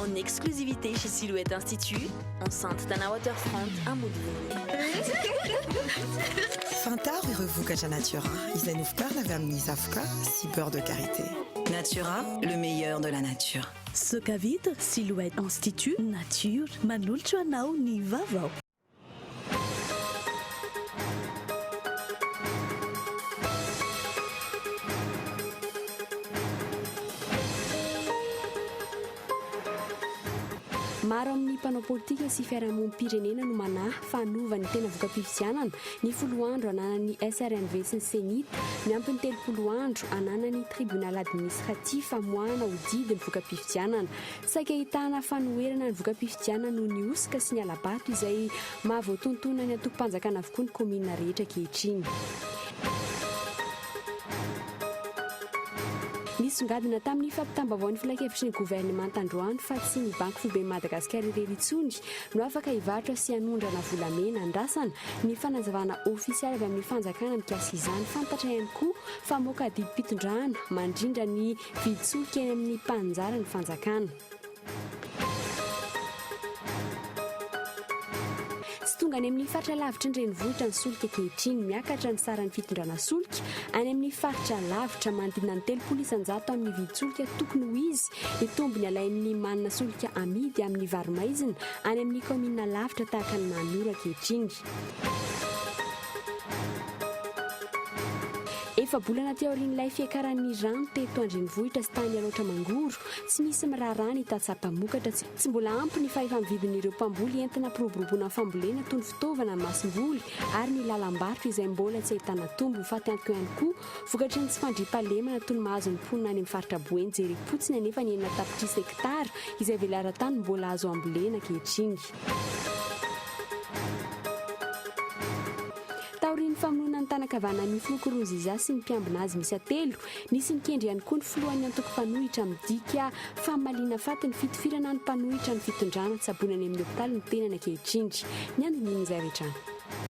En exclusivité chez Silhouette Institut, enceinte Tana Waterfront à Fantaro ireo vokatra Natura izay novokarina avy amin'ny zavoka sy beurre de karité. Natura, le meilleur de la nature. Sokavita, Silhouette Institut, Nature, manolotra anao ny vaovao. Maro amin'ny mpanao politika sy fiarahamonim-pirenena no manahy fa hanova ny tena voka-pifidianana ny folo andro ananan'ny SRMV sy ny Cenit, miampy ny telopolo andro ananan'ny Tribunal Administratif hamoahana ho didy ny voka-pifidianana. Saika ahitana fanoherana ny voka-pifidianana noho ny hosoka sy ny hala-bato izay maha voatontonan'ny antokom-panjakana avokoa ny kaominina rehetra ankehitriny. Nisongadina tamin'ny fampitam-baovaon'ny filankevitry ny governemanta androany fa tsy ny Banky Foiben'i Madagasikara irery intsony no afaka hivarotra sy hanondrana volamena andrasana. Ny fanazavana ofisialy avy amin'ny fanjakana mikasika izany, fantatra ihany koa fa moka didim-pitondrana mandrindra ny Vitsoika eny amin'ny mpaninjara ny fanjakana. Tsy tonga any amin'ny faritra lavitry ny renivohitra ny solika ankehitriny. Miakatra ny saran'ny fitondrana solika any amin'ny faritra lavitra. Manodidina ny telopolo isan-jato amin'ny vidin-tsolika tokony ho izy ny tombony alain'ny manana solika amidy amin'ny varo-maizina any amin'ny kaominina lavitra tahaka an'i Mahanoro ankehitriny. Efa-bolana aty aorian'ilay fiakaran'ny rano teto an-drenivohitra sy tany Alaotra Mangoro, tsy misy miraharaha ny tantsaha mpamokatra. Tsy mbola ampy ny fahefa-mividin'ireo mpamboly entana ampiroboroboana fambolena toy ny fitaovana, ny masomboly ary ny lalam-barotra izay mbola tsy ahitana tombony. Fatiantoka ihany koa vokatry ny tsy fandriampahalemana toy ny mahazo ny mponina any amin'ny faritra Boeny. Jerem-potsiny anefa ny enina tapitrisa hektara izay velaran-tany mbola azo ambolena ankehitriny. Taorian'ny famonoana ny tanan-kavana an'i Ofo Nkurunziza sy ny mpiambina azy miisa telo, nisy nikendry ihany koa ny filohan'ny antoko mpanohitra midika famaliana faty ny fitifirana ny mpanohitra ny fitondrana tsaboina any amin'ny hopitaly ny tenany ankehitriny. Ny andinindin'izay avy hatrany.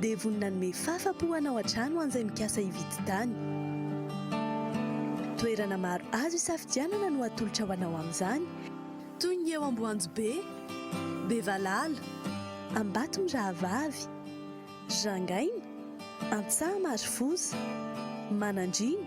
dia vonona hanome fafa-po hanao an-trano ho an'izay mikasa hividy tany. Toerana maro azo isafidianana no atolotra ho anao amin'izany, toy ny eo Amboanjobe, Bevalala, Ambatomirahavavy, Jangaina, Antsaha-Marofosa, Manandriana,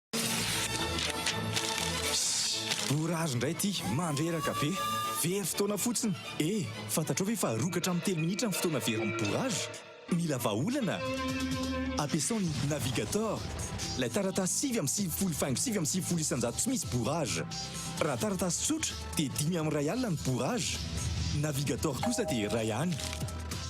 Borary indray ity, mandreraka be. Very fotoana fotsiny. E, fantatrao ve fa rongatra amin'ny telo minitra ny fotoana very amin'ny borary? Mila vahaolana? Ampiasao ny Navigator, ilay taratasy sivy amby sivifolo faingo sivy amby sivifolo isan-jato tsy misy borary. Raha taratasy tsotra dia dimy amin'ny iray alina ny borary. Navigator kosa dia iray any.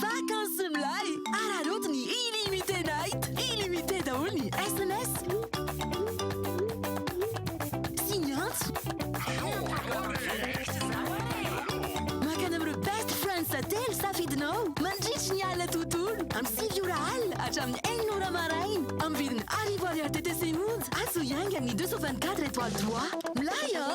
Vakansy milay! Araraoty ny Illimité Night! Illimité daholo ny sms sy ny antso! Mankany amin'ireo best friends telo safidinao mandritry ny alina tontolo, amin'ny sivy ora alina hatramin'ny enina ora maraina, amin'ny vidiny arivo ariary TTC monja, azo iaingan'ny deux cent vingt quatre étoiles droit. Milay an!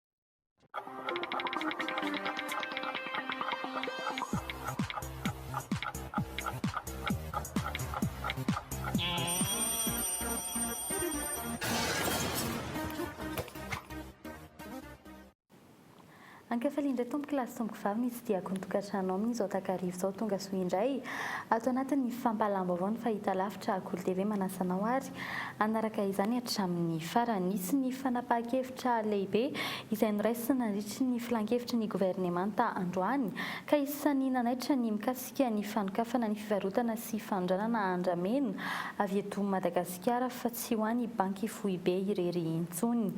Ankafali indray tompoko lahy sy tompoko vavy ny tsidiako ny tokantrano amin'ny izao takarivo izao tonga soa indray ato anatin'ny fampahalalam-baovao ny fahita lavitra Akolo TV manasa anao ary hanaraka izany hatramin'ny farany. Nisy ny fanapahan-kevitra lehibe izay noraisina nandritry ny filan-kevitry ny governemanta androany, ka isan'ny nanaitra ny mikasika ny fanokafana ny fivarotana sy fanondranana andramena avy eto Madagasikara fa tsy ho any Banky Foibe irery intsony.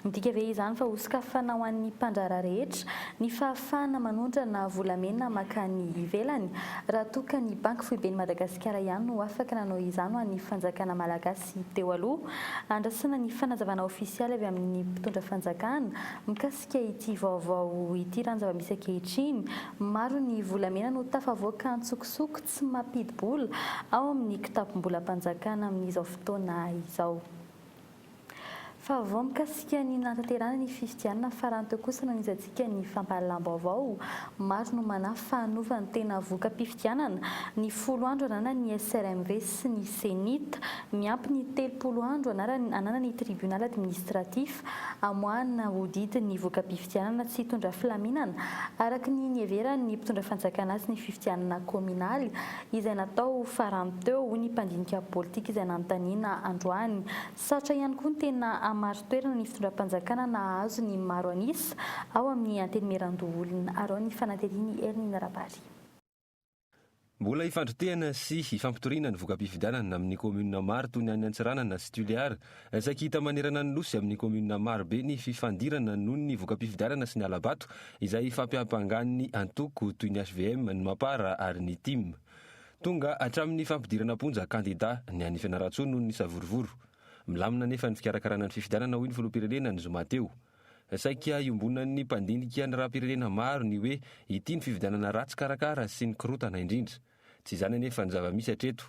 Midika ve izany fa hosokafana ho an'ny mpandraharaha rehetra ny fahafahana manondrana volamena mankany ivelany? Raha toa ka ny Banky foiben'i Madagasikara ihany no afaka nanao izany ho an'ny fanjakana malagasy teo aloha. Andrasana ny fanazavana ofisialy avy amin'ny mpitondra fanjakana mikasika ity vaovao ity ranjava misy ankehitriny. Maro ny volamena no tafavoaka antsokosoko tsy mampidi-bola ao amin'ny kitapom-bolam-panjakana amin'izao fotoana izao. Fa vao mikasika ny nanatanterahana ny fifidianana farany teo kosa no nihitsantsika ny fampahalalam-baovao. Maro no manahy fa hanova ny tena voka-pifidianana ny folo andro ananany ny SRMV sy ny CENIT. Miampy ny telopolo andro anarany ananan'ny Tribunal Administratif hamoahana ho didy ny voka-pifidianana tsy hitondra filaminana araka ny niheveran'ny mpitondra fanjakana azy ny fifidianana kaominaly izay natao farany teo, hoy ny mpandinika politika izay nanontaniana androany. Sarotra ihany koa ny tena hamari-toerana ny fitondram-panjakana nahazo ny maro an'isa ao amin'ny Antenimierandoholona, arao ny fanatirian'i Hermine Rabary. Mbola hifandrotehana sy hifampitoriana ny voka-pifidianana amin'ny kaominina maro toy ny any Antsiranana sy Tuléar Saiky hita manerana ny Nosy amin'ny kaominina maro be ny fifandirana noho ny voka-pifidianana sy ny hala-bato izay fampiampangan'ny antoko toy ny hvm, ny Mapar ary ny Tim. Tonga hatramin'ny fampidirana am-ponja kandida ny any Fianarantsoa noho ny savorovoro. Milamina anefa ny fikarakarana ny fifidianana hoy ny filoham-pirenena ny zoma teo. Saika iombonan'ny mpandinika ny raha-pirenena maro ny hoe ity ny fifidianana ratsy karakara sy ny korontana indrindra. Tsy izany anefa ny zava-misy hatreto.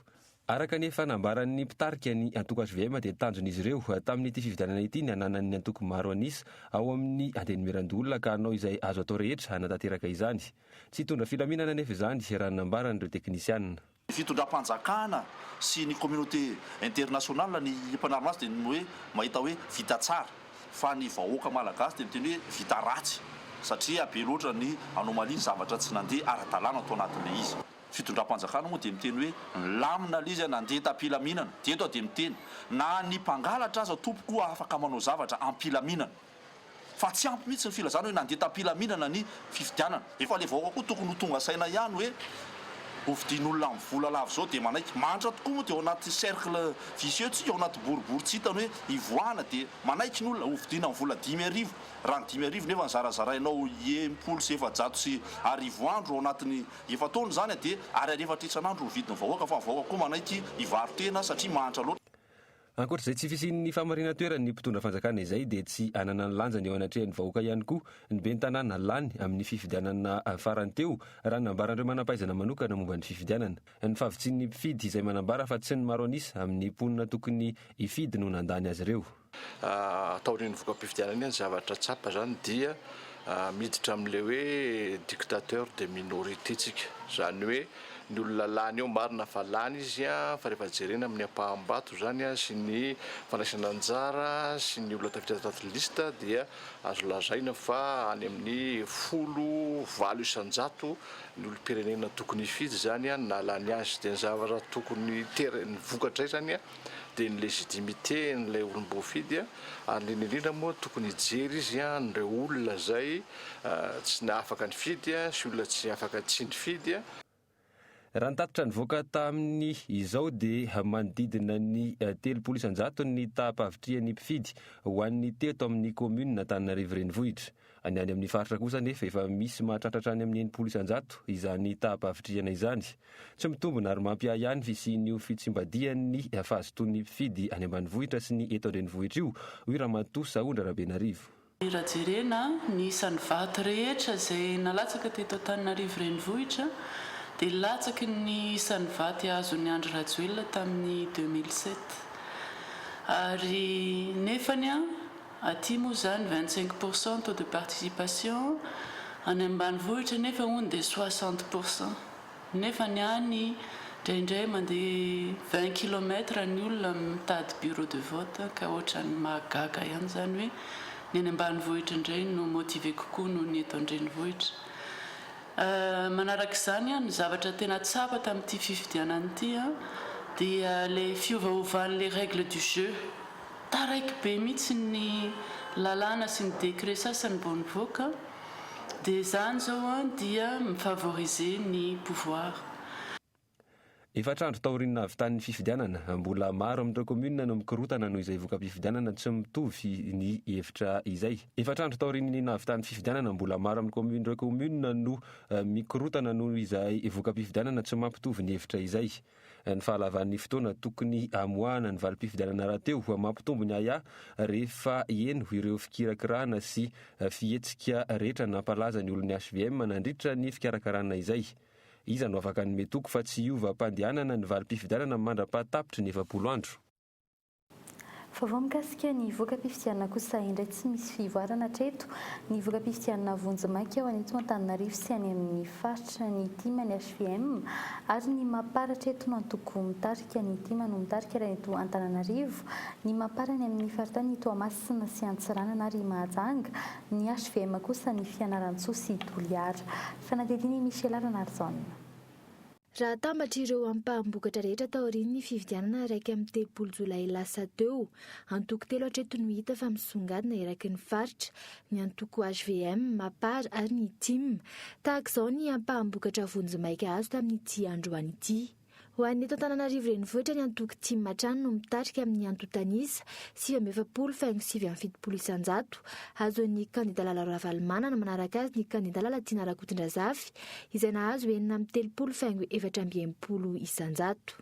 Araka ny efa nambaran'ny mpitarika ny antoko hvm dia tanjon'izy ireo tamin'ity fifidianana ity ny hananan'ny antoko maro an'isa ao amin'ny antenimieran-doholona ka hanao izay azo atao rehetra hanatanteraka izany. Tsy hitondra filaminana anefa izany raha ny nambaran'ireo teknisiana. Ny fitondram-panjakana sy ny communauté internationale ny mpanarina azy dia ny hoe mahita hoe vita tsara. fa ny vahoaka malagasy dia miteny hoe vita ratsy satria be loatra ny anomalie, ny zavatra tsy nandeha ara-dalàna tao anatin'ilay izy. Fitondram-panjakana moa dia miteny hoe milamina ilay izy a, nandeha tam-pilaminana, dia eto aho dia miteny, na ny mpangalatra aza tompoko afaka manao zavatra am-pilaminana, fa tsy ampy mihitsy ny filazana hoe nandeha tam-pilaminana ny fifidianana. Efa le vahoaka koa tokony ho tonga saina ihany hoe hovidian'olona amin'ny vola lava izao dia manaiky. Mahantra tokoa moa dia ao anaty cercle vicieux tsika, ao anaty boribory tsy hitany hoe hivoahana dia manaiky ny olona hovidiana amin'ny vola dimy arivo. Raha ny dimy arivo nefa zarazarainao enimpolo sy efajato sy arivo andro ao anatin'ny efa-taona izany dia ariary efatra isan'andro ny vidin'ny vahoaka fa ny vahoaka koa manaiky hivarotena satria mahantra loatra. Ankoatra izay tsy fisian'ny famarinan-toeran'ny mpitondra fanjakana izay dia tsy anana ny lanjany eo anatrehan'ny vahoaka ihany koa ny ben'ny tanàna lany amin'ny fifidianana farany teo raha nambaran'ireo manampahaizana manokana momba ny fifidianana. Ny fahavitsian'ny mpifidy izay manambara fa tsy ny maro an'isa amin'ny mponina tokony hifidy no nandany azy ireo. Taorian'ny voka-pifidianana iny ny zavatra tsapa izany dia miditra amin'ilay hoe dictateur de minority tsika. Izany hoe ny olona lany eo marina fa lany izy a fa rehefa jerena amin'ny ampaham-bato izany a sy ny fandraisana anjara sy ny olona tafiditra taty liste dia azo lazaina fa any amin'ny folo valo isan-jato ny olom-pirenena tokony hifidy izany a ny nahalany azy dia ny zavatra tokony ter ny vokatra izany a dia ny légitimité n'ilay olom-boafidy ary indrindra indrindra moa tokony hijery izy an'ireo olona izay tsy afaka nifidy sy olona tsy afaka tsy nifidy. Raha ny tatitra nivoaka tamin' izao dia manodidina ny telopolo isan-jato ny taham-pahavitrihan' ny mpifidy ho an' ny teto amin' ny kaominina Antananarivo Renivohitra. Ny any amin'ny faritra kosa anefa efa misy mahatratra hatrany amin'ny enimpolo isan-jato izany taham-pahavitrihana izany. Tsy mitombina ary mampiahiahy ny fisian'io fitsimbadihan'ny fahazotoan'ny mpifidy any ambanivohitra sy ny eto an-drenivohitra io, hoy Ramatoa Sahondra Rabenarivo. Raha jerena ny isan'ny vato rehetra izay nalatsaka teto Antananarivo Renivohitra dia latsaky ny isan'ny vaty azon'i Andry Rajoelina tamin'ny deux mille sept ary nefany Aty moa izany vingt cinq pour cent taux de participation, any ambanivohitra nefa hono dia soixante pour cent. Nefa ny any indraindray mandeha vingt kilomètres ny olona mitady bureau de vote ka ohatran'ny mahagaga ihany izany hoe ny any ambanivohitra indray no motiver kokoa noho ny eto an-drenivohitra. Manaraka izany ny zavatra tena tsapa tamin'ity fifidianana ity dia ilay fiovaovan'ilay règle du jeu. Taraiky be mihitsy ny lalàna sy ny décret sasany vao nivoaka dia izany izao an dia mi favoriser ny pouvoir. Efatra andro taorian'ny nahavitan'ny fifidianana, mbola maro amin'ireo kaominina no mikorotana noho izay voka-pifidianana tsy mitovy ny hevitra izay. Efatra andro taorian'ny nahavitan'ny fifidianana, mbola maro amin'ny kaominina ireo kaominina no mikorotana noho izay voka-pifidianana tsy mampitovy ny hevitra izay. Ny fahalavan'ny fotoana tokony hamoahana ny valim-pifidianana rahateo mampitombo ny ahiahy rehefa heno ireo fikirakirana sy fihetsika rehetra nampalaza ny olon'ny hvm nandritra ny fikarakarana izay. Iza no afaka hanome toky fa tsy hiova am-pandehanana ny valim-pifidianana mandra-pahatapitry ny efapolo andro? Vaovao mikasika ny voka-pifidianana kosa indray tsy misy fivoarana hatreto ny voka-pifidianana vonjimaika ao an'eto Antananarivo sy any amin'ny faritra ny tim ny hvm ary ny mapar hatreto no antoko mitarika ny tim no mitarika raha eto Antananarivo ny mapar any amin'ny faritany Toamasina sy Antsiranana ary Mahajanga ny hvm kosa ny Fianarantsoa sy Toliara fanadihadiana i Michela Ranarijaona. Raha atambatra ireo ampaham-bokatra rehetra taorian'ny fifidianana iraika amby telopolo jolay lasa teo, antoko telo hatreto no hita fa misongadina eraky ny faritra, ny antoko hvm, Mapar ary ny tim. Tahaka izao ny ampaham-bokatra vonjimaika azo tamin'ity androany ity. Ho an'ny eto Antananarivo renivohitra ny antoko tim hatrany no mitarika amin'ny antontan'isa, sivy amby efapolo faingo sivy amby fitopolo isanjato. Azon'ny kandida Lalao Ravalomanana manaraka azy ny kandida Lalatiana Rakotondrazafy, izay nahazo enina amby telopolo faingo efatra amby enimpolo isan-jato.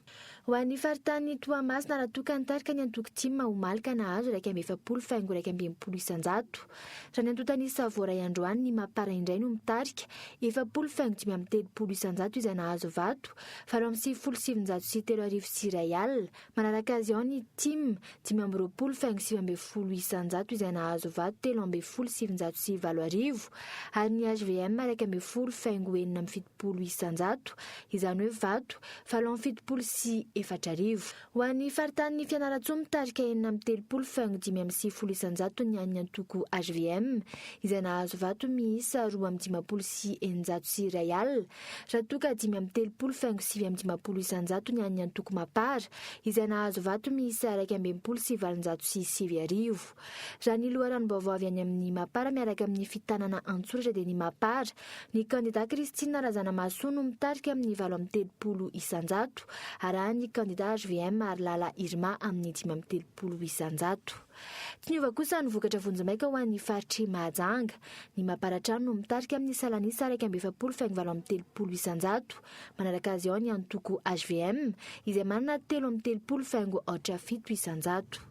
Ho an'ny faritanin'i Toamasina raha toa ka nitarika ny antoko tim omaly ka nahazo iraika amby efapolo faingo iraika amby enimpolo isan-jato. Raha ny antontan'i Savoray androany ny Mapar indray no mitarika efapolo faingo dimy amby telopolo isan-jato izay nahazo vato valo amby sivifolo sy sivinjato sy telo arivo sy iray alina Manaraka azy ao ny tim dimy amby roapolo faingo sivy ambin'ny folo isan-jato izay nahazo vato telo ambin'ny folo sy sivinjato sy valo arivo ary ny hvm iraika ambin'ny folo faingo enina amby fitopolo isan-jato, izany hoe vato valo amby fitopolo sy efatra arivo. Ho an'ny faritanin'i Fianarantsoa mitarika enina amby telopolo faingo dimy amby sivifolo isan-jato ny an'ny antoko hvm izay nahazo vato miisa roa amby dimampolo sy eninjato sy iray alina Raha toa ka dimy amby telopolo faingo sivy amby dimampolo isanjato ny an'ny antoko Mapar, izay nahazo vato miisa iraika ambin'ny folo sy valonjato sy sivy arivo. Raha ny loharanom-baovao avy any amin'ny Mapar miaraka amin'ny fitanana an-tsoratra dia ny Mapar, ny kandidà Christine Razanamahasoa no mitarika amin'ny valo amby telopolo isanjato, arahan'ny kandidà hvm Harilala Irma amin'ny dimy amby telopolo isanjato. Tsy niova kosa ny vokatra vonjimaika ho an'ny faritr'i Mahajanga. Ny Maparatrano no mitarika amin'ny salan'isa iraika amby efapolo faingo valo amby telopolo isan-jato. Manaraka azy ao ny antoko hvm izay manana telo amby telopolo faingo aotra fito isan-jato.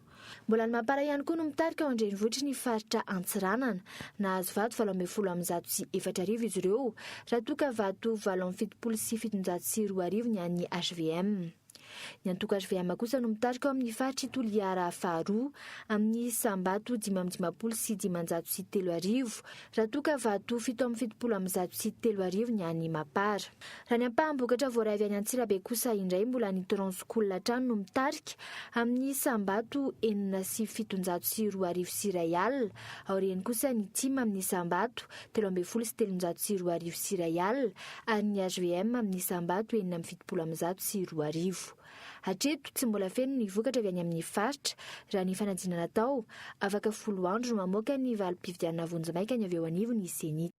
Mbola ny Mapara ihany koa no mitarika ao an-drenivohitry ny faritra Antsiranana. Nahazo vato valo ambin'ny folo amby zato sy efatra arivo izy ireo raha toa ka vato valo amby fitopolo sy fitonjato sy roa arivo ny an'ny hvm. Ny antoko hvm kosa no mitarika ao amin'ny faritr'i Toliara faharoa, amin'ny isam-bato dimy amby dimampolo sy dimanjato sy telo arivo, raha toa ka vato fito amby fitopolo amby zato sy telo arivo ny an'i Mapar. Raha ny ampaham-bokatra voaray avy any Antsirabe kosa indray mbola ny Transcool hatrany no mitarika, amin'ny isam-bato enina sy fitonjato sy roa arivo sy iray alina, aoriany kosa ny Tim amin'ny isam-bato telo ambin'ny folo sy telonjato sy roa arivo sy iray alina ary ny HVM amin'ny isam-bato enina amby fitopolo amby zato sy roa arivo. Hatreto, tsy mbola feno ny vokatra avy any amin'ny faritra, raha ny fanadinana atao, afaka folo andro no mamoaka ny valim-pifidianana vonjimaika ny avy eo anivon' ny Ceni.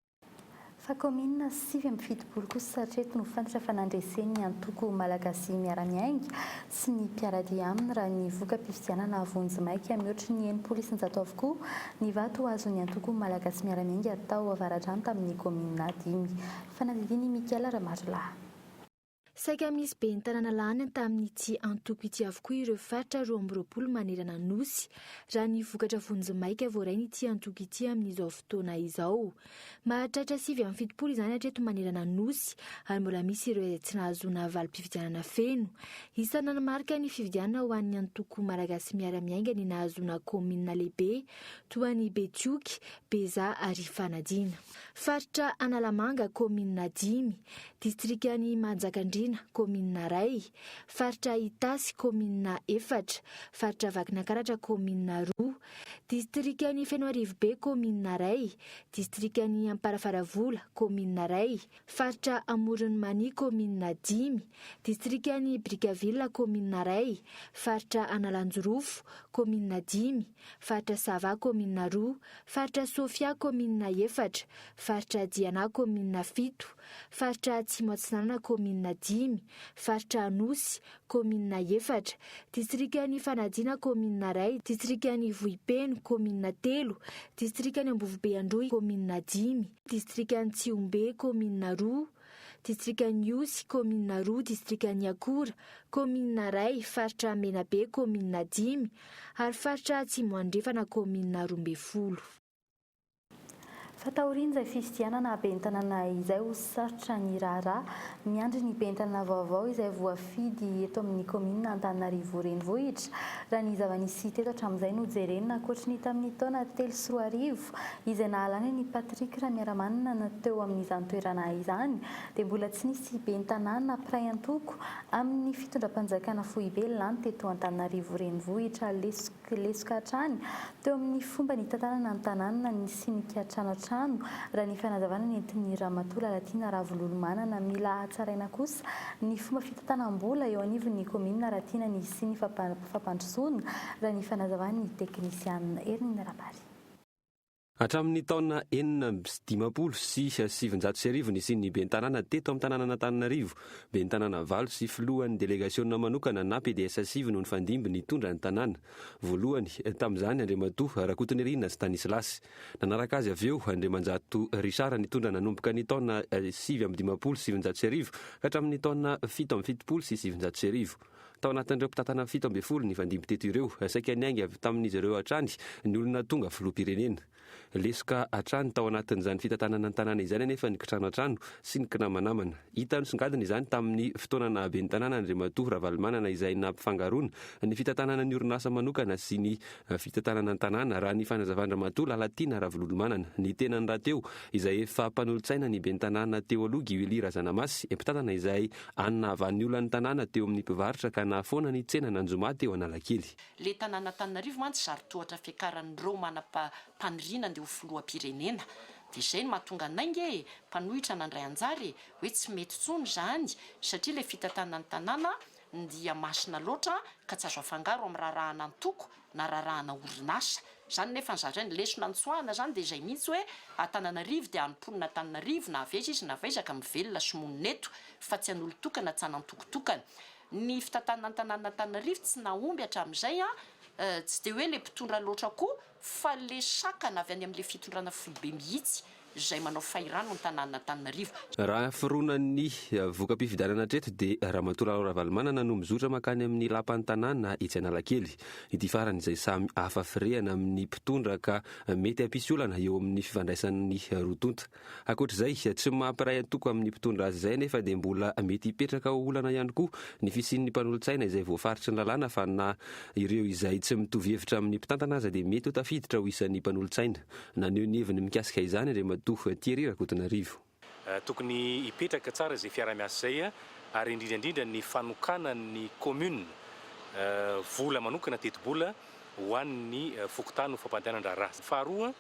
Fa kaominina sivy amby fitopolo kosa hatreto no fantatra fa nandresen'ny antoko Malagasy Miara-Miainga sy ny mpiara-dia aminy raha ny voka-pifidianana vonjimaika mihoatry ny enimpolo isanjato avokoa ny vato ho azon'ny antoko Malagasy Miara-miainga tao Avaradrano tamin'ny kaominina dimy. Fanadihadian'i Michael Ramarolahy. Saika misy ben'ny tanàna lany tamin'ity antoko ity avokoa ireo faritra roa amby roapolo manerana ny Nosy, raha ny vokatra vonjimaika voarain'ity antoko ity amin'izao fotoana izao. Mahatratra sivy amby fitopolo izany hatreto manerana ny Nosy ary mbola misy ireo izay tsy nahazoana valim-pifidianana feno. Isan'ny nanamarika ny fifidianana ho an'ny antoko Malagasy Miara-Miainga ny nahazoana kaominina lehibe toa an'i Betioky, Beza ary Ifanadiana. Faritra Analamanga, kaominina dimy, distrikan'i Manjakandriana, kaominina iray, faritra Itasy, kaominina efatra, faritra Vakinankaratra, kaominina roa, Distrikan'i Fenoarivobe, kaominina iray. Distrikan'i Amparafaravola, kaominina iray. Faritra Amoron'i Mania, kaominina dimy. Distrikan'i Brickaville, kaominina iray. Faritra Analanjirofo, kaominina dimy. Faritra Sava, kaominina roa. Faritra Sofia, kaominina efatra. Faritra Diana, kaominina fito. Faritra Atsimo Atsinanana, kaominina dimy. Faritra Anosy, kaominina efatra, distrikan' i Fanadina, kaominina iray, distrikan' i Vohipeno, kaominina telo, distrikan' i Ambovobeandroy, kaominina dimy, distrikan' i Tsihombe, kaominina roa, distrikan' i Osy, kaominina roa, distrikan' i Akora, kaominina iray, faritra Menabe, kaominina dimy, ary faritra Atsimo Andrefana, kaominina roa ambin'ny folo. Fa taorian'izay fifidianana haben'ny tanàna izay ho sarotra ny raharaha, miandry ny ben'ny tanàna vaovao izay voafidy eto amin'ny kaominina Antananarivo Renivohitra, raha ny zava-nisy teto hatramin'izay no jerena, ankoatry ny tamin'ny taona telo sy roa arivo izay nahalany an'i Patrick Ramiaramanana teo amin'izany toerana izany dia mbola tsy nisy ben'ny tanàna mpiray antoko amin'ny fitondram-panjakana foibe lany teto Antananarivo Renivohitra lesy dia lesoka hatrany teo amin'ny fomba nitantanana ny tanàna ny sinika trano an-trano, raha ny fanazavana nentin'ny Ramatoa Lalatiana Ravololomanana. Mila hatsaraina kosa ny fomba fitantanam-bola eo anivon'ny kaominina raha tiana ny hisian'ny fampandrosoana, raha ny fanazavan'ny teknisianina Hermine Rabary. Hatramin'ny taona enina amby sy dimampolo sy sivinjato sy arivo nisian'ny Ben'ny Tanàna teto amin'ny tanànan'Antananarivo, Ben'ny Tanàna valo sy Filohan'ny Delegasiona manokana na PDS sivy no nifandimby nitondra ny tanàna. Voalohany, tamin'izany, Andriamatoa Rakotonirina Stanislas. Nanaraka azy avy eo, Andriamanjato Richard nitondra nanomboka ny taona sivy amby dimampolo sy sivinjato sy arivo ka hatramin'ny taona fito amby fitopolo sy sivinjato sy arivo. Tao anatin'ireo mpitantana fito ambin'ny folo nifandimby teto ireo, saika niainga avy tamin'izy ireo hatrany ny olona tonga filoham-pirenena. Lesoka hatrany tao anatin'izany fitantanana ny tanàna izany anefa ny kitrano an-trano sy ny kinamanamana. Hita nisongadina izany tamin'ny fotoana naha ben'ny tanàna Andriamatoa Ravalomanana izay nampifangaroana ny fitantanana ny orinasa manokana sy ny fitantanana ny tanàna raha ny fanazavan-dRamatoa Lalatiana Ravololomanana ny tenany rahateo izay efa mpanolotsaina ny ben'ny tanàna teo aloha Guy Willy Razanamasy mpitantana izay Any nahavan'ny olan'ny tanàna teo amin'ny mpivarotra ka nahafoana ny tsenan'Anjomà teo Analakely. Le tanan'Antananarivo mantsy zary tohatra fiakaran'ireo manapa paniriana andeha ho filoham-pirenena de zay no mahatonga anay nge mpanohitra nandray anjara e hoe tsy mety tsony zany satria le fitantanan'ny tanàna ndia masina loatra ka tsy azo afangaro amin'ny raharahana antoko nararahana orinasa zany nefa zaraina ny lesona ny tsoahana zany dia izay mihitsy hoe Antananarivo dia any mponina Antananarivo na avy aiza izy na avy aiza ka mivelona sy monina eto fa tsy an'olon-tokana tsy an'antokotokana ny fitantanana an-tanànan' Antananarivo tsy nahomby hatramin'izay an tsy dia hoe ilay mpitondra loatra koa fa ilay sakana avy any amin'ilay fitondrana foibe mihitsy izay manao fahirano antananantananarivo. Raha fironan'ny voka-pifidianana hatreto dia Ramatoa Lalao Ravalomanana no mizotra mankany amin'ny lapan'ny tanàna etsy Analakely. Ity farany izay samy hafa firehana amin'ny mpitondra ka mety hampisy olana eo amin'ny fifandraisan'ny roa tonta. Ankoatr'izay, tsy mampiray antoko amin'ny mpitondra azy izay anefa dia mbola mety hipetraka ho olana ihany koa ny fisian'ny mpanolotsaina izay voafaritry ny lalàna fa na ireo izay tsy mitovy hevitra amin'ny mpitantana aza dia mety ho tafiditra ho isan'ny mpanolotsaina Naneho ny heviny mikasika izany Andriamatoa Thierry Rakotonarivo. Tokony hipetraka tsara izay fiaraha-miasa izay ary indrindra indrindra ny fanokanan'ny commune vola manokana, tetibola, ho an'ny fokontany ho fampandehanan-draharaha. Faharoa,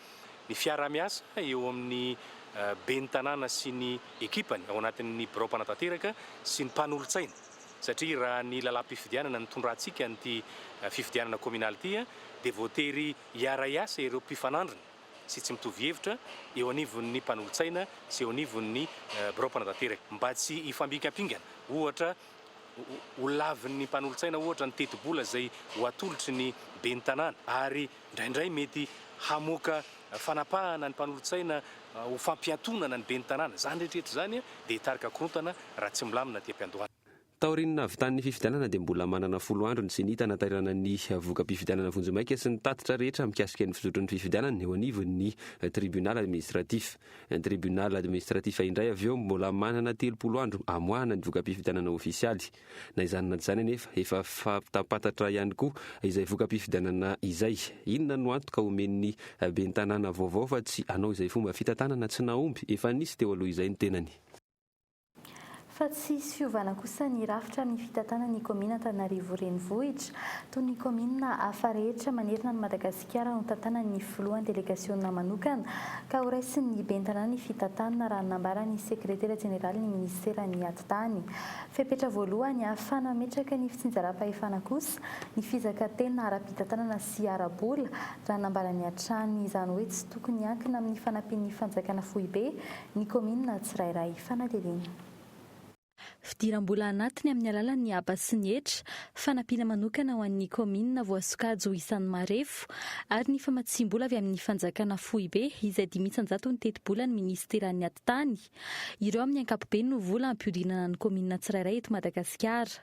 ny fiaraha-miasa eo amin'ny ben'ny tanàna sy ny ekipany ao anatin'ny birao mpanatanteraka sy ny mpanolotsaina satria raha ny lalàm-pifidianana nitondrantsika an'ity fifidianana kominaly ity dia voatery Hiara-hiasa ireo mpifanandrina sy tsy mitovy hevitra eo anivon'ny mpanolotsaina sy eo anivon'ny birao mpanantanteraka mba tsy hifambinkampingana ohatra ho lavin'ny mpanolotsaina ohatra ny tetibola izay ho atolotry ny ben'ny tanàna ary indraindray mety hamoaka fanapahana ny mpanolotsaina ho fampiatonana ny ben'ny tanàna. Izany rehetra rehetra izany dia hitarika korontana raha tsy milamina aty am-piandohana. Taorian'ny nahavitan'ny fifidianana dia mbola manana folo andro ny Ceni tanaterana ny voka-pifidianana vonjimaika sy ny tatitra rehetra mikasika ny fizotry ny fifidianana eo anivon'ny Tribunal Administratif. Tribunal Administratif indray avy eo mbola manana telopolo andro hamoahana ny voka-pifidianana ofisialy. Na izany na izany anefa efa fantampantatra ihany koa izay voka-pifidianana izay. Inona no antoka omen'ny Ben'ny tanàna vaovao fa tsy hanao izay fomba fitantanana tsy nahomby efa nisy teo aloha izay ny tenany? Fa tsy hisy fiovana kosa ny rafitra amin'ny fitantanana ny kaominina Antananarivo Renivohitra. Toy ny kaominina hafa rehetra manerana an'i Madagasikara no tantanan'ny filohan'ny delegasiona manokana ka horaisin'ny ben'ny tanàna ny fitantanana raha ny nambaran'ny sekretera jeneralin'ny minisiteran'ny atitany. Fepetra voalohany hahafana mametraka ny fitsinjaram-pahefana kosa ny fizakantena ara-pitantanana sy ara-bola raha nambarany hatrany izany hoe tsy tokony hiankina amin'ny fanampian'ny fanjakana foibe ny kaominina tsirairay fanadihadiana. Fidiram-bola anatiny amin'ny alalan'ny haba sy ny hetra, fanampiana manokana ho an'ny kaominina voasokajy ho isan'ny marefo, ary ny famatsiam-bola avy amin'ny fanjakana foibe izay dimy isan-jatony tetibolan'ny minisiteran'ny atitany. Ireo amin'ny ankapobeny no vola ampihodinana ny kaominina tsirairay eto Madagasikara.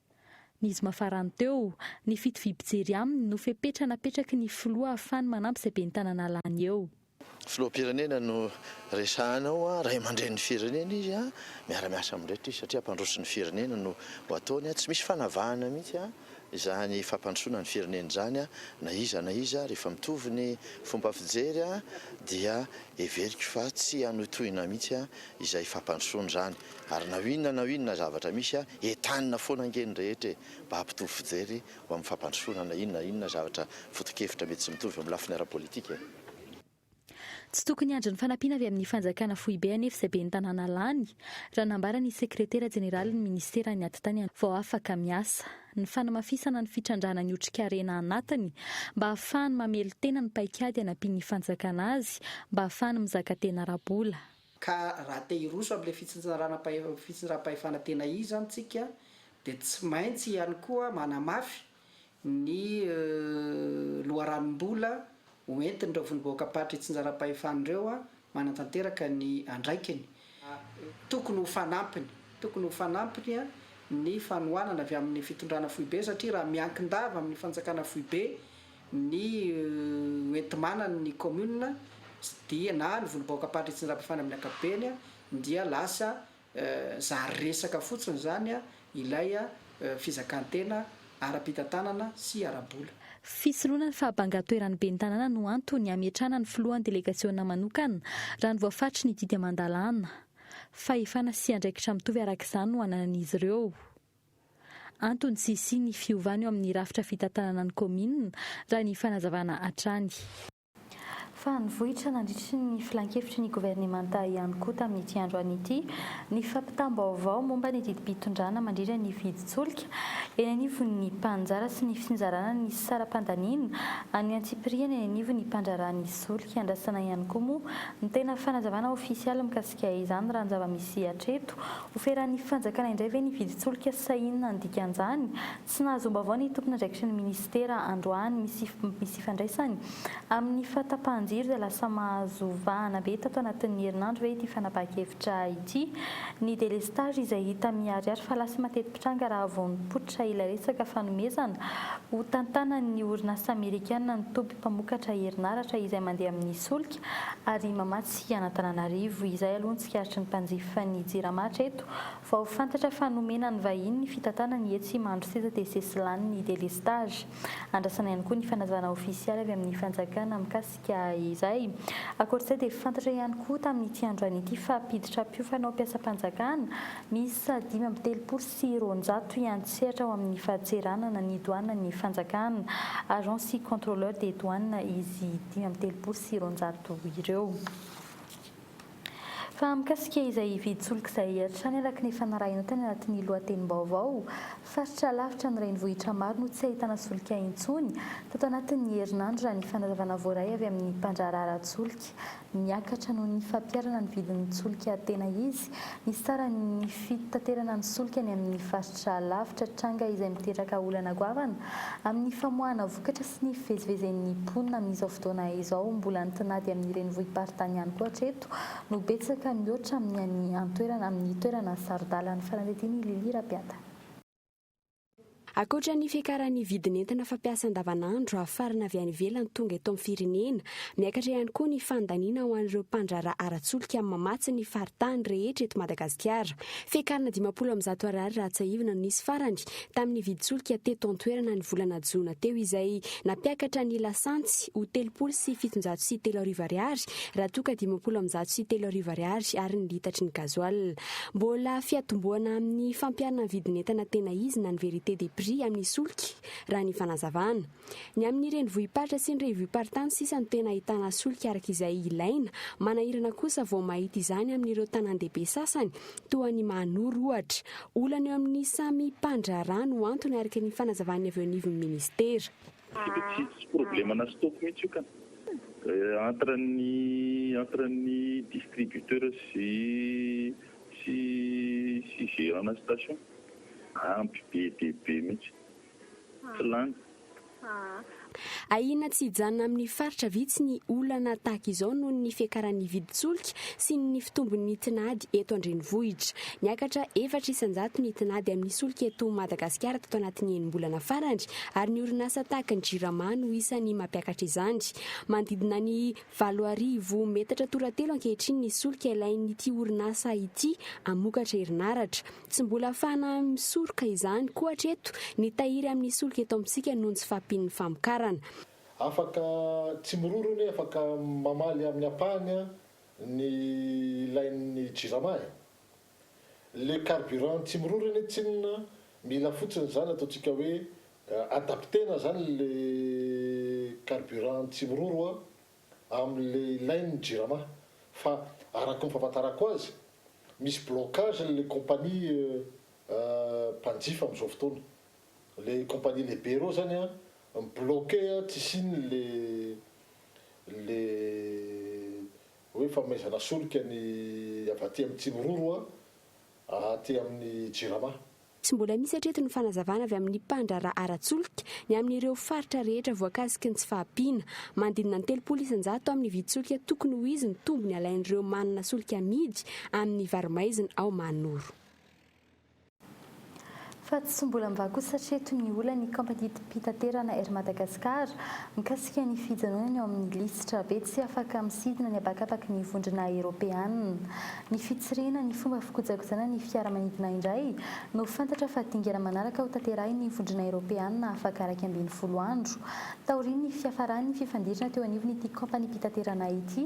Ny zoma farany teo, ny fitoviam-pijery aminy no fepetra napetraky ny filoha ahafahany manampy izay ben'ny tananà lany eo. Filoham-pirenena no resahana ao, ray aman-drenin'ny firenena izy, miara-miasa amin'ireto izy satria mpandroso ny firenena no ho ataony, tsy misy fanavahana mihitsy izany fampandrosoana ny firenena izany na iza na iza, rehefa mitovy ny fomba fijery dia heveriko fa tsy hanohitohina mihitsy izay fampandrosoana izany. Ary na inona na inona zavatra misy a, entanina foana ange ny rehetra e, mba hampitovy fijery ho amin'ny fampandrosoana na inona na inona zavatra foto-kevitra mety tsy mitovy amin'ny lafiny ara-politika e. Tsy tokony hiandry ny fanampiana avy amin'ny fanjakana foibe anefa izay ben'ny tanàna lany, raha nambara ny sekretera jeneralin'ny ministeran'ny Atitany vao afaka miasa, ny fanamafisana ny fitrandrahana ny otrikarena anatiny mba hahafahany mamelon-tena ny paikady anampian'ny fanjakana azy mba hahafahany mizaka tena ara-bola. Ka raha te hiroso amin'ilay fitsinjaram-pahefana fitsinjaram-pahefana tena izy zany tsika dia tsy maintsy ihany koa manamafy ny loharanom-bola ho entin'ireo vondrom-bahoakam-paritra itsinjaram-pahefana ireo manatanteraka ny andraikiny. Tokony ho fanampiny tokony ho fanampiny ny fanohanana avy amin'ny fitondrana foibe satria raha miankin-dava amin'ny fanjakana foibe ny hoenti-manan' ny kaominina dia na ny volobaoka Ampandriantsinjabafana amin' ny ankapobeny dia lasa zary resaka fotsiny izany ilay fizakan-tena ara-pitantanana sy ara-bola. Fisoloana ny fahabangan-toeran' ny ben'ny tanàna no antony hametrahana ny filohan' ny delegasiôna manokana raha ny voafaritry ny didy aman-dalàna. Fahefana sy andraikitra mitovy araka izany no ananan' izy ireo. Antony tsy hisian'ny fiovana eo amin'ny rafitra fitantanana ny kaominina, raha ny fanazavana hatrany. Fa nivoitra nandritry ny filankevitry ny governemanta ihany koa tamin'ity androany ity ny fampitam-baovao momba ny didim-pitondrana mandrindra ny vidin-tsolika eny anivon'ny mpaninjara sy ny fisinjarana ny saram-pandaniana an'ny antsipiriany eny anivon'ny mpandraharaha ny solika iandrasana ihany koa moa ny tena fanazavana ofisialy mikasika Dia izany raha ny zava-misy hatreto. Ho feran'ny fanjakana indray ve ny vidin-tsolika sa inona ny dikan'izany? Tsy nahazoam-baovao ny tompon'andraikitry ny minisitera androany. Misy misy ifandraisany amin'ny fahatapahan-jiro izay lasa mahazo vahana be tato anatin'ny herinandro ve ity fanapahan-kevitra ity? Ny délestage izay hita miharihary fa lasa mateti-pitranga raha vao nipoitra ilay resaka fanomezana ho tantanan'ny orinasa amerikana ny toby mpamokatra herinaratra izay mandeha amin'ny solika ary mamatsy Aty Anatananarivo izay aloha ny tsikaritry ny mpanjifa ny Jirama hatreto. Vao fantatra fa nomena ny vahiny ny fitantanany etsy Imandry sisa dia sesy lany ny delestazy. Andrasana ihany koa ny fanazavana ofisialy avy amin'ny fanjakana mikasika izay. Ankoatr'izay dia fantatra ihany koa tamin'ity androany ity fa mpiditra mpiofana ho mpiasam-panjakana miisa dimy amby telopolo sy roanjato hiantsehatra ao amin'ny fadseranana ny doanan'ny fanjakana, agents sy contrôleurs des douanes, izy dimy amby telopolo sy roanjato ireo. Fa mikasika izay hividy solika izay hatrany araka ny efa narahina tany anatin'ny lohatenim-baovao, faritra lavitra ny renivohitra maro no tsy ahitana solika intsony tato anatin'ny herinandro raha ny fanazavana voaray avy amin'ny mpandraharaha solika. Miakatra noho ny fampiharana ny vidin'ny solika tena izy. Misy tsara ny fitaterana ny solika any amin'ny faritra lavitra, tranga izay miteraka olana goavana amin'ny famoahana vokatra sy ny fivezivezen'ny mponina amin'izao fotoana izao. Mbola ny tinady amin'ny renivohi-paritany ihany koa hatreto no betsaka mihoatra amin'ny any an-toerana, amin'ny toerana saro-dalana. Fanadihadian'i Lily Rabeata. Ankoatra ny fiakaran'ny vidin'entana fampiasa andavanandro hafarana avy any ivelany tonga eto amin'ny firenena, miakatra ihany koa ny fandaniana ho an'ireo mpandraharaha ara-tsolika mamatsy ny faritany rehetra eto Madagasikara. Fiakarana dimampolo amin'ny zato Ar raha tsiahivina no nisy farany tamin'ny vidin-tsolika teto an-toerana ny volana jona teo izay nampiakatra ny lasantsy ho telopolo sy fitonjato sy telo arivo Ar raha toa ka dimampolo amin'ny zato sy telo arivo Ar ary ny litatry ny gazoala Mbola fiatombohana amin'ny fampiharana ny vidin'entana tena izy na ny vérité des prix amin'ny solika, raha ny fanazavana. Ny amin'ny renivohi-paritra sy ny revioparitany sisa no tena ahitana solika araka izay ilaina, manahirana kosa vao mahita izany amin'ireo tanàn-dehibe sasany toa an'i Mahanoro ohatra. Olana eo amin'ny samy mpandraharaha no antony araka ny fanazavan'ny avy eo anivon'ny minisitera. Tsy tsy problème ana stock mihitsy io ka. Entre ny entre ny distributeur sy sy sy gérant na station. Ampy be dia be mihitsy. Tsy lany. Ahiana tsy hijanona amin'ny faritra vitsy ny olana tahaka izao noho ny fiakaran'ny vidin-tsolika sy ny fitombon'ny tinady eto an-drenivohitra. Niakatra efatra isan-jato ny tinady amin'ny solika eto Madagasikara tato anatin'ny enim-bolana farany ary ny orinasa tahaka ny Jirama no isan'ny mampiakatra izany. Manodidina ny valo arivo metatra toratelo ankehitriny ny solika ilain'ity orinasa ity hamokatra herinaratra. Tsy mbola afahana misoroka izany koa hatreto ny tahiry amin'ny solika eto amintsika noho ny tsy fahampian'ny famokarana. Afaka tsy miroro anie afaka mamaly amin'ny ampahany ny ilain'ny Jirama e! Le carburant tsy miroro anie tsinona mila fotsiny izany ataontsika hoe adaptena izany le carburant tsy miroro a amin'le ilainy ny jirama fa araky ny fahafantarako azy misy blocage le compagnie mpanjifa amin'izao fotoana le compagnie lehibe reo zany a mi-bloquer tsy hisian'le le Hoe famaizana solika ny avy aty amin'ny Tsimiroro a, aty amin'ny Jirama. Tsy mbola misy hatreto ny fanazavana avy amin'ny mpandraharaha ara-tsolika ny amin'ireo faritra rehetra voakasiky ny tsy fahampiana. Manodidina ny telopolo isan-jato amin'ny vidin-tsolika tokony ho izy ny tombony alain'ireo manana solika amidy amin'ny varo-maizina ao Mahanoro. Fa tsy mbola mivaky kosa hatreto ny olan'ny kaompaniam-pitaterana Air Madagascar mikasika ny fijanonany ao amin'ny lisitra be tsy afaka misidina ny habakabaky ny vondrona eropeana. Ny fitsirihina ny fomba fikojakojana ny fiaramanidina indray no fantatra fa dingana manaraka ho tanterahin'ny vondrona eropeana afaka iraika ambin'ny folo andro taorian'ny fiafaran'ny fifandirana teo anivon'ity kaompaniam-pitaterana ity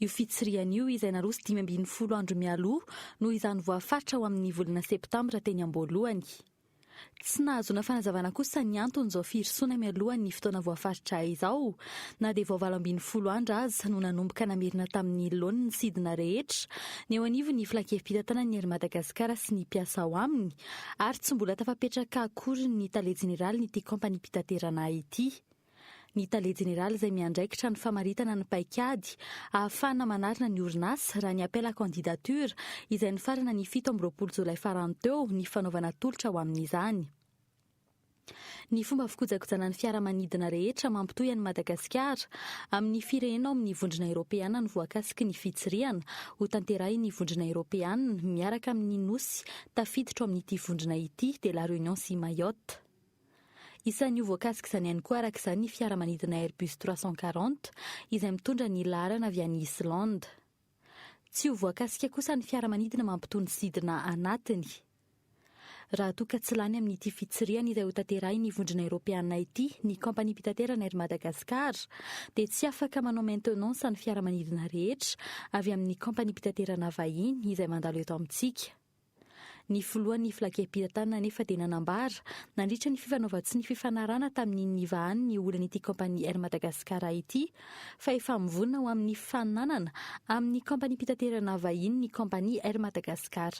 Io fitsirihana io, izay naroso dimy ambin'ny folo andro mialoha, noho izany voafaritra ho amin'ny volana septambra teny am-boalohany. Tsy nahazoana fanazavana kosa ny anton'izao firosoana mialohan'ny fotoana voafaritra izao, na dia vao valo ambin'ny folo andro aza no nanomboka namerina tamin'ny laoniny ny sidina rehetra ny eo anivon'ny Filankevi-pitantanan'ny Air Madagascar sy ny mpiasa ao aminy ary tsy mbola tafapetraka akory ny Tale Jeneralin'ity kaompaniam-pitaterana ity. ny tale jeneraly izay miandraikitra ny famaritana ny paikady ahafahana manarina ny orinasa raha ny appel à candidature izay nifarana ny fito amby roapolo jolay farany teo ny fanaovana tolotra ho amin'izany. Ny fomba fikojakojana ny fiaramanidina rehetra mampitohy an'i Madagasikara amin'ny firehena ao amin'ny Vondrona Eropeana ny voakasiky ny fitsirihana hotanterahin'ny Vondrona Eropeana miaraka amin'ny nosy tafiditra ao amin'ity vondrona ity dia La Réunion sy Mayotte. Isan'ny ho voakasik'izany ihany koa araka izany ny fiaramanidina Airbus trois cent quarante izay mitondra ny laharana avy any Islande. Tsy ho voakasika kosa ny fiaramanidina mampitony sidina anatiny raha toa ka tsy lany amin'ity fitsirihana izay hotanterahin'ny vondrona eropeana ity ny kaompaniam-pitaterana Air Madagascar dia tsy afaka manao maintenance ny fiaramanidina rehetra avy amin'ny kaompaniam-pitaterana vahiny izay mandalo eto amintsika. Ny filohan'ny Flakem-pitantanana anefa dia nanambara, nandritra ny fifanaovan-tsy ny fifanarahana tamin'ny nivahany ny olan'ity kaompania Air Madagascar ity, fa efa mivonona ho amin'ny fifaninanana amin'ny kaompaniam-pitaterana vahiny ny kaompania Air Madagascar.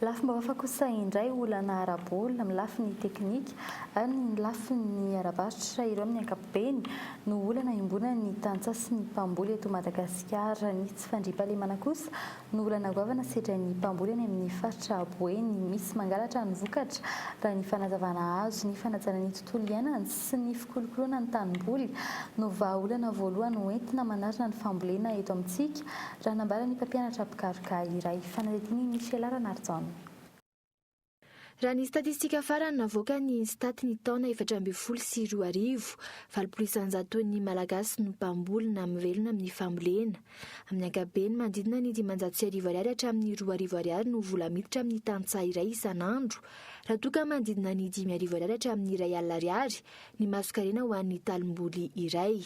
Lafim-baovao hafa kosa indray, olana ara-bola amin'ny lafiny teknika ary ny lafiny ara-barotra, ireo amin'ny ankapobeny no olana iombonan'ny tantsaha sy ny mpamboly eto Madagasikara. Ny tsy fandriampahalemana kosa no olana goavana sedrain'ny mpamboly any amin'ny faritra Boeny misy mangalatra ny vokatra, raha ny fanazavana azo. Ny fanajana ny tontolo iainana sy ny fikolokoloana ny tanimboly no vahaolana voalohany ho entina manarina ny fambolena eto amintsika, raha nambaran'ny mpampianatra mpikaroka iray. Fanadihadian'i Michela Ranarijaona. Raha ny statistika farany navoakan'ny INSTAT ny taona efatra ambin'ny folo sy roa arivo, valopolo isanjaton'ny Malagasy no mpamboly na mivelona amin'ny fambolena. Amin'ny ankapobeny, manodidina ny dimanjato sy arivo ariary hatramin'ny roa arivo ariary no vola miditra amin'ny tantsaha iray isan'andro, raha toa ka manodidina ny dimy arivo ariary hatramin'ny iray alina ariary ny masonkarena ho an'ny talimboly iray.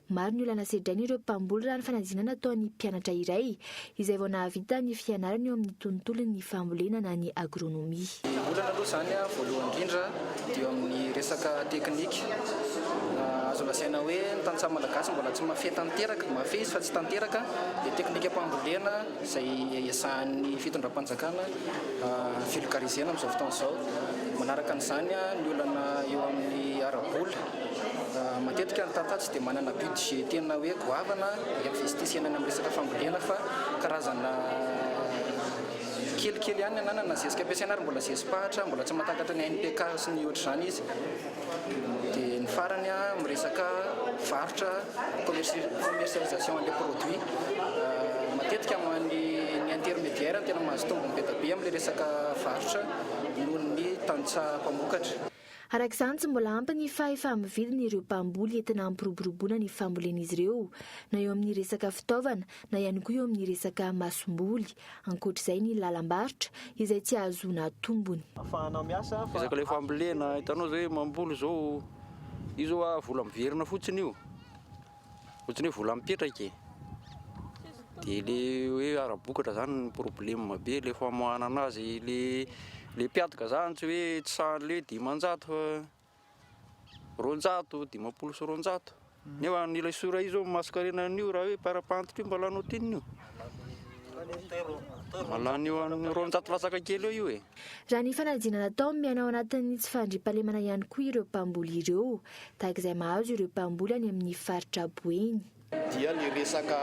Maro ny olana sedrain'ireo mpamboly raha ny fanadinana ataon'ny mpianatra iray izay vao nahavita ny fianarany eo amin'ny tontolon'ny fambolena na ny agronomie. Ny olana aloha izany voalohany indrindra dia eo amin'ny resaka teknika. Azo lazaina hoe ny tantsaha malagasy mbola tsy mahafehy tanteraka, mahafehy izy fa tsy tanteraka ilay teknikam-pambolena izay ezahan'ny fitondram-panjakana vulgariser-na amin'izao fotoana izao. Manaraka an'izany ny olana eo amin'ny ara-bola. Matetika ny tantsaha tsy dia manana budget tena hoe goavana investis any amin'ny resaka fambolena fa karazana kelikely ihany ny ananana na zezika ampiasaina ary mbola zezi-pahitra mbola tsy mahatakatra ny NPK sy ny ohatr'izany izy dia ny farany amin'ny resaka varotra commercialisation an'ilay produit matetika amin'ny ny intermédiaire no tena mahazo tombony be dia be amin'ilay resaka varotra noho ny tantsaha mpamokatra. Araka izany, tsy mbola ampy ny fahefa-mividin' ireo mpamboly entina hampiroboroboana ny fambolen'izy ireo, na eo amin'ny resaka fitaovana na ihany koa eo amin'ny resaka masomboly. Ankoatra izay ny lalam-barotra izay tsy ahazoana tombony. Resaka ilay fambolena, hitanao izay hoe mamboly izao, io izao vola miverina fotsiny io. Ohatran'ny hoe vola mipetraka e. Dia le hoe ara-bokatra zany ny problème be le famoahana anazy le le mpiadoka zany tsy hoe tsy sahan'ny le dimanjato fa roanjato, dimampolo sy roanjato. Nefa ny ilay sora io zao ny masonkarena an'io raha hoe par rapport io mba lany ohatrinona io. Mba lany eo amin'ny roanjato latsaka kely eo io e. Raha ny fanadihana natao, miaina ao anatin'ny tsy fandriampahalemana ihany koa ireo mpamboly ireo, tahaka izay mahazo ireo mpamboly any amin'ny faritra Boeny. dia ny resaka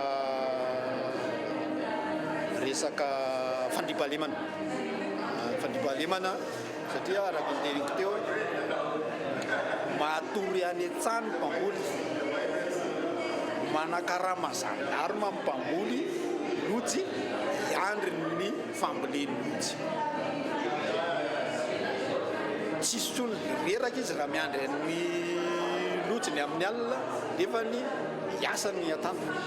resaka fandriampahalemana, ny fandriampahalemana satria araka ny teniko teo, matory any an-tsaha ny mpamboly, manakarama zandarma ny mpamboly, lojy hiandry ny. famboleny mihitsy. Tsy hisy intsony reraka izy raha miandry ny lojiny amin'ny alina nefa ny hiasa no hiantampany.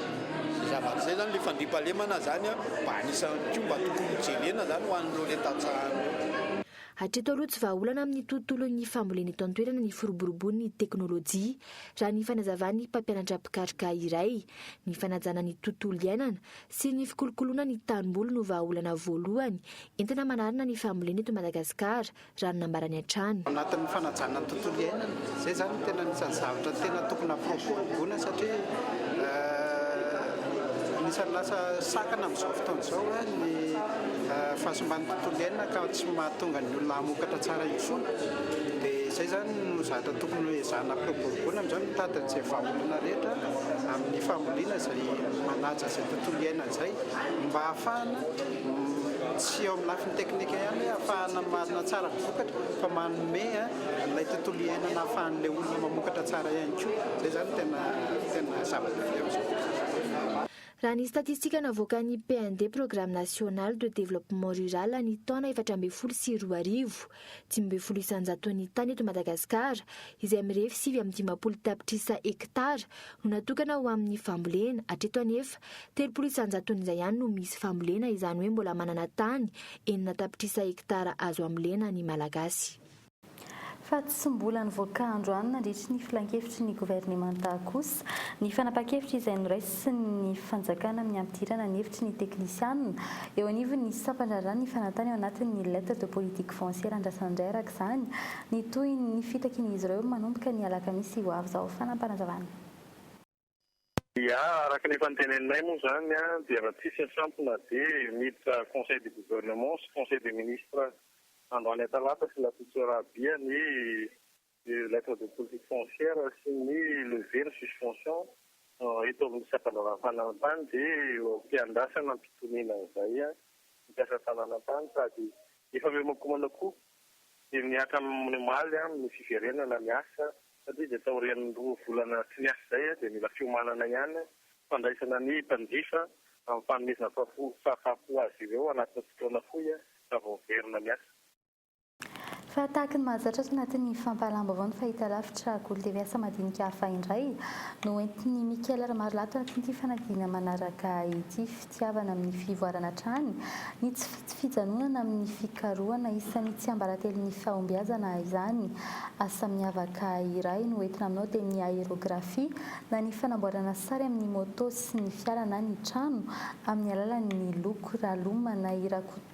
Izay zavatra izay izany, ilay fandriampahalemana izany mba anisan'ny koa mba tokony hojerena izany ho an'ireo ilay tantsaha ireo. Hatreto aloha tsy vahaolana amin'ny tontolon'ny fambolena eto an-toerana ny firoborobon'ny teknolojia, raha ny fanazavan'ny mpampianatra mpikaroka iray. Ny fanajana ny tontolo iainana, sy ny fikolokoloana ny tanimboly no vahaolana voalohany entina manarina ny fambolena eto Madagasikara, raha ny nambarany hatrany. Anatin'ny fanajana ny tontolo iainana, izay izany no tena anisan'ny zavatra tena tokony hampiroboroboana satria anisan'ny lasa sakana amin'izao fotoana izao ny fahasimban'ny tontolo iainana ka tsy mahatonga ny olona hamokatra tsara intsony, dia izay izany no zavatra tokony hoezahana hampiroboroboana amin'izao, mitady an'izay vahaolana rehetra amin'ny fambolena izay. dia manaja izay tontolo iainana izay mba hahafahana tsy eo amin'ny lafiny teknika ihany hoe hahafahana mamarina tsara ny vokatra fa manome an'ilay tontolo iainana hahafahan'ilay olona mamokatra tsara ihany koa. Izay izany tena tena zava-dehibe amin'izao. Raha ny statistika navoakan'ny PND, Programme National de Développement Rural, ny taona efatra ambin'ny folo sy roa arivo, Dimy ambin'ny folo isanjaton'ny tany eto Madagasikara, izay mirefy sivy amby dimampolo tapitrisa hektara, no natokana ho amin'ny fambolena. Hatreto anefa, telopolo isanjaton'izay ihany no misy fambolena, izany hoe mbola manana tany enina tapitrisa hektara azo ambolena ny Malagasy. Fa tsy mbola nivoaka androany nandritry ny filankevitry ny governemanta kosa ny fanapahan-kevitra izay noraisin'ny fanjakana amin'ny hampidirana ny hevitry ny teknisianina Eo anivon'ny sampandraharaha ny fanantany ao anatin'ny Lettres de politique foncière andrasan'indray araka izany ny tohin'ny fitakian'izy ireo manomboka ny alakamisy ho avy izao. Fanapanazavana. Dia araka ny efa noteneninay moa izany dia raha tsisy asampona dia miditra conseil du gouvernement sy conseil des ministres androany talata sy alatotsoa raha bia ny ny lettre de politique foncière sy ny levée ny suspension eto amin'ny sampandraharaha fananantany dia eo am-piandrasana am-pitoniana izay ny mpiasa fananantany sady efa mihomankomana koa dia mihatra amin'ny omaly ny fiverenana ny asa satria dia taorian'ny roa volana tsy miasa izay dia mila fiomanana ihany fandraisana ny mpanjifa amin'ny fanomezana fahafoy azy ireo anatin'ny fotoana fohy raha vao miverina miasa. Fa tahaky ny mahazatra ato anatin'ny fampahalalam-baovao ny fahitalavitra Golo TV asa madinika hafa indray no hoentin'i Michael Ramarolato anatin'ity fanadihana manaraka ity. Fitiavana amin'ny fivoarana hatrany ny tsy fijanonana amin'ny fikarohana isan'ny tsiambaratelon'ny fahombiazana izany asa miavaka iray no hoentina aminao dia ny aérographie na ny fanamboarana sary amin'ny moto sy ny fiara na ny trano amin'ny alalan'ny loko. Raloma na i Rakoto.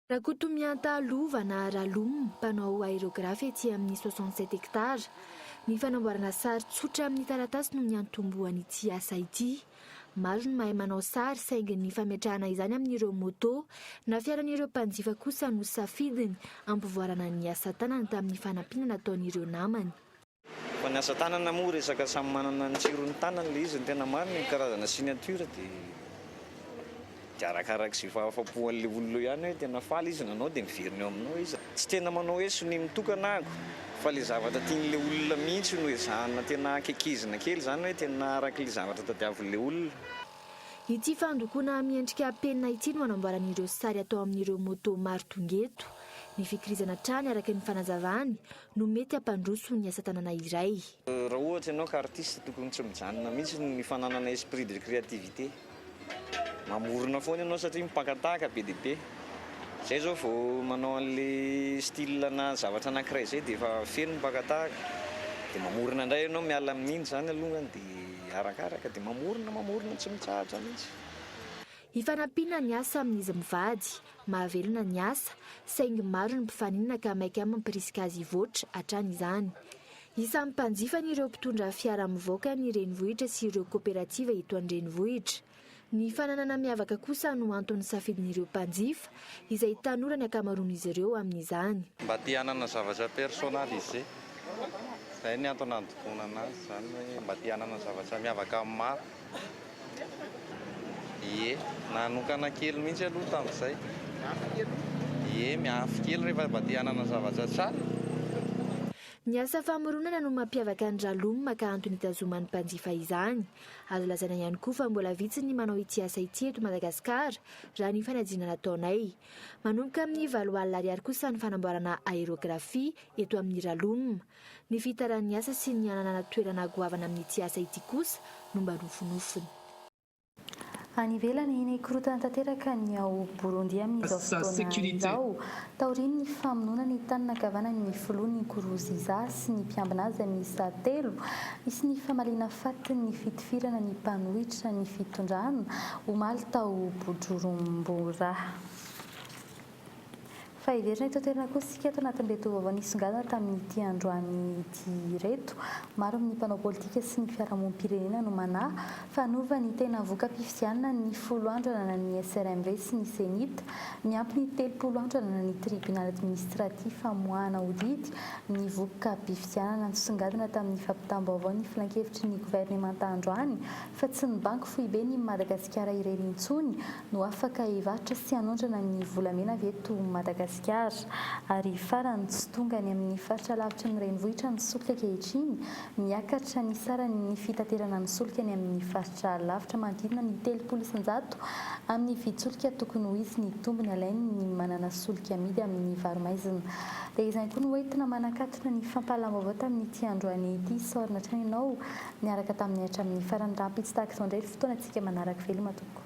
Rakotomianta Lova na Ralom, mpanao aérographe etsy amin'ny soixante sept hectares. Ny fanamboarana sary tsotra amin'ny taratasy no niantombohan'ity asa ity. Maro ny mahay manao sary saingy ny fametrahana izany amin'ireo moto na fiaran'ireo mpanjifa kosa no safidiny hampivoarana ny asa tanany tamin'ny fanampiana nataon'ireo namany. Fa ny asa tanana moa resaka samy manana ny tsirony tanany le izy ny tena marina ny karazana signature de de arakaraky ze fahafapo anle olona eo ihany hoe tena faly izy nanao de miverina eo aminao izy. Tsy tena manao hoe sonia mitokana aho fa le zavatra tianle olona mihitsy no ezahana tena kekezina kely zany hoe tena arakle zavatra tadiavinle olona. Ity fandokoana miendrika penina ity no anamboaran'ireo sary atao amin'ireo moto maro tonga eto. Mifikirizana hatrany araka ny fanazavany no mety hampandroso ny asa tanana iray. Raha ohatra ianao ka artiste tokony tsy mijanona mihitsy ny fananana esprit de creativité. Mamorona foana ianao satria mpaka tahaka be dia be. Izay izao vao manao an'ilay style na zavatra anankiray izay dia efa feno ny mpaka tahaka. Dia mamorona indray ianao miala amin'iny izany alongany dia arakaraka dia mamorona mamorona tsy mitsahatra mihitsy. Hifanampiana ny asa amin'izy mivady. Mahavelona ny asa, saingy maro ny mpifaninana ka maika amin'ny mpirisika azy hivoatra hatrany izany. Isan'ny mpanjifany ireo mpitondra fiara mivoaka ny renivohitra sy ireo koperativa eto an-drenivohitra. Ny fananana miavaka kosa no anton'ny safidin'ireo mpanjifa, izay tanora ny ankamaroan'izy ireo amin'izany. Mba te hanana zavatra personnalisé. Izay ny antony andokoana anazy izany hoe mba te hanana zavatra miavaka amin'ny maro. Ie, nanokana kely mihitsy aloha tamin'izay. Miafy kely aloha. Ie, miafy kely rehefa mba te hanana zavatra tsara. Ny asa famoronana no mampiavaka ny Raloma ka antony itazoman'ny mpanjifa izany. Azo lazaina ihany koa fa mbola vitsy ny manao ity asa ity eto Madagasikara raha ny fanajiana nataonay. Manomboka amin'ny valo alina ariary kosa ny fanamboarana aérografie eto amin'ny Raloma. Ny fihitaran'ny asa sy ny hananana toerana goavana amin'ity asa ity kosa no mba nofinofiny. Any ivelany, nikorontana tanteraka ny ao Borondi amin'izao fotoana izao, taorian'ny famonoana ny tanana ankavanan'ny filoha Nkurunziza sy ny mpiambina azy miisa telo, nisy ny famaliana fatin'ny fitifirana ny mpanohitra ny fitondrana, omaly tao Bujurumburah. Fa heverina eto an-toerana kosa isika eto anatin'ilay toa vaovao nisongadina tamin'ity androany ity ireto. Maro amin'ny mpanao politika sy ny fiarahamonim-pirenena no manahy fa hanova ny tena voka-pifidianana ny folo andro ananan'ny SRMV sy ny Cenit, miampy ny telopolo andro ananan'ny Tribunaly Administratif hamoahana ho didy ny voka-pifidianana nisongadina tamin'ny fampitam-baovao ny Filankevitry ny Governemanta androany fa tsy ny Banky Foiben'i Madagasikara irery intsony no afaka hivarotra sy hanondrana ny volamena avy eto Madagasikara. Ary farany, tsy tonga any amin'ny faritra lavitry ny renivohitra ny solika ankehitriny, miakatra ny sarany ny fitaterana ny solika any amin'ny faritra lavitra manodidina ny telopolo isan-jato amin'ny vidin-tsolika tokony ho izy ny tombony alain'ny manana solika amidy amin'ny varo-maizina. Dia izany koa no entina manakatona ny fampahalam-baovao tamin'ity androany ity. Isaorana hatrany ianao niaraka taminay hatramin'ny farany. Rahampitso tahaka izao indray ny fotoana antsika manaraka. Veloma tompoko.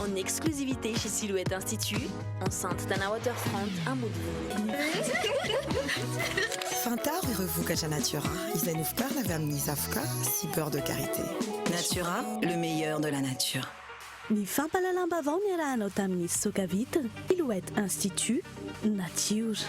En exclusivité chez Silhouette Institut, enceinte Tana Waterfront à Moulin. Fantaro ireo vokatra Natura izay novokarina avy amin'ny zavoka sy beurre de karité. Natura, le meilleur de la nature. Ny fampahalalam-baovao niarahanao tamin'ny fisoka vitre Silhouette Institut, Natiora.